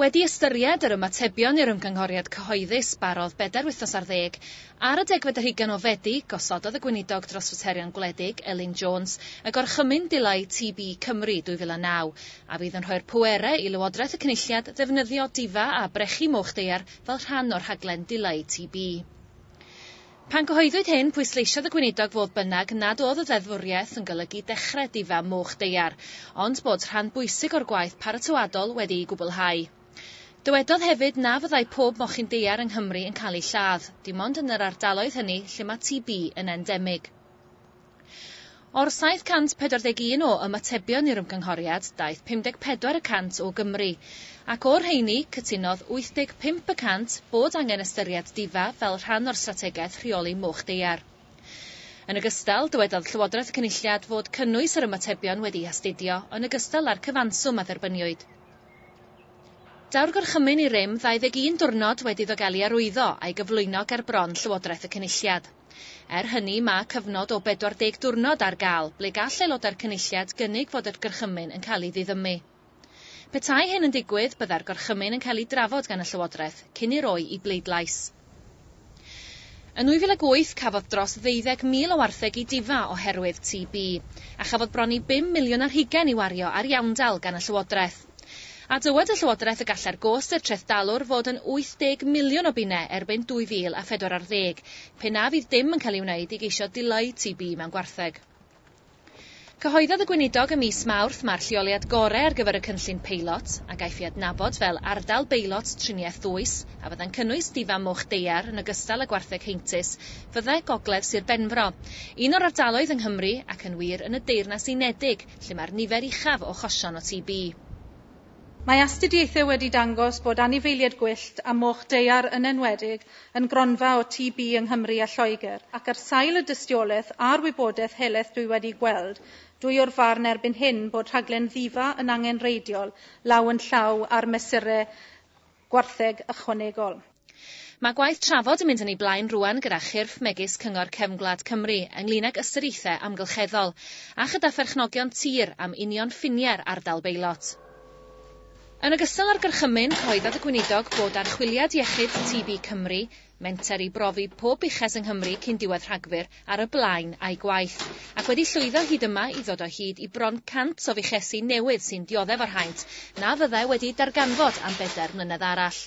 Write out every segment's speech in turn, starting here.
Wedi ystyried yr ymatebion i'r ymgynghoriad cyhoeddus barodd bedair wythnos ar ddeg, ar y degfed o hugain o Fedi, gosododd y Gweinidog dros Faterion Gwledig, Elin Jones, y Gorchymyn Dileu TB Cymru 2009, a fydd yn rhoi'r pwerau i Lywodraeth y Cynulliad ddefnyddio difa a brechu moch daear fel rhan o'r rhaglen dileu TB. Pan gyhoeddwyd hyn, pwysleisiodd y Gweinidog fodd bynnag nad oedd y ddeddfwriaeth yn golygu dechrau difam moch daear, ond bod rhan bwysig o'r gwaith paratoadol wedi'i gwblhau. Dywedodd hefyd na fyddai pob mochyn daear yng Nghymru yn cael eu lladd, dim ond yn yr ardaloedd hynny lle mae TB yn endemig. O'r 741 o ymatebion i'r ymgynghoriad, daeth 54 y cant o Gymru. Ac o'r rheiny, cytunodd 85 y cant bod angen ystyried difa fel rhan o'r strategaeth rheoli moch daear. Yn ogystal, dywedodd Llywodraeth y Cynulliad fod cynnwys yr ymatebion wedi'i hastudio yn ogystal â'r cyfanswm a dderbyniwyd. Daw'r Gorchymyn i rym 21 diwrnod wedi ddogelu arwyddo a'i gyflwyno ger bron Llywodraeth y Cynulliad. Er hynny, mae cyfnod o 40 diwrnod ar gael ble gall Aelodau'r Cynulliad gynnig fod yr Gorchymyn yn cael ei ddiddymu. Petai hyn yn digwydd, byddai'r Gorchymyn yn cael ei drafod gan y Llywodraeth cyn ei roi i bleidlais. Yn 2008, cafodd dros ddeuddeg mil o wartheg eu difa oherwydd TB, a chafodd bron i bum miliwn ar hugain i wario ar iawndal gan y Llywodraeth. A dywed y Llywodraeth y gallai'r gost i'r trethdalwr fod yn 80 miliwn o bunnau erbyn 2040, pe na fydd dim yn cael ei wneud i geisio dileu TB mewn gwartheg. Cyhoeddodd y Gweinidog ym mis Mawrth mai'r lleoliad gorau ar gyfer y cynllun peilot, a gaiff ei adnabod fel Ardal Beilot Triniaeth Ddwys, a fyddai'n cynnwys Difa Moch Deiar yn ogystal â gwartheg heintus, fyddai Gogledd Sir Benfro, un o'r ardaloedd yng Nghymru, ac yn wir yn y Deyrnas Unedig, lle mae'r nifer uchaf o achosion o TB. Mae astudiaethau wedi dangos bod anifeiliaid gwyllt a moch daear yn enwedig yn gronfa o TB yng Nghymru a Lloegr, ac ar sail y dystiolaeth a'r wybodaeth helaeth dwi wedi gweld, dwi o'r farn erbyn hyn bod rhaglen Ddifa yn angenreidiol law yn llaw â'r mesurau. gwartheg ychwanegol. Mae gwaith trafod yn mynd yn ei blaen rŵan gyda chyrff megis Cyngor Cefn Gwlad Cymru ynglŷn ag ystyriaethau amgylcheddol, a chyda pherchnogion tir am union ffiniau'r ardal beilot. Yn ogystal â'r gorchymyn, cyhoeddodd y Gweinidog Bod Archwiliad Iechyd TB Cymru, Menter i brofi pob uchas yng Nghymru cyn diwedd Rhagfyr ar y blaen a'i gwaith, ac wedi llwyddo hyd yma i ddod o hyd i bron 100 o fuchesi newydd sy'n dioddef o'r haint na fyddai wedi'u darganfod am bedair mlynedd arall.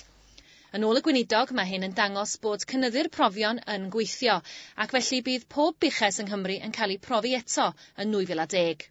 Yn ôl y Gweinidog, mae hyn yn dangos bod cynyddu'r profion yn gweithio, ac felly bydd pob buches yng Nghymru yn cael eu profi eto yn 2010.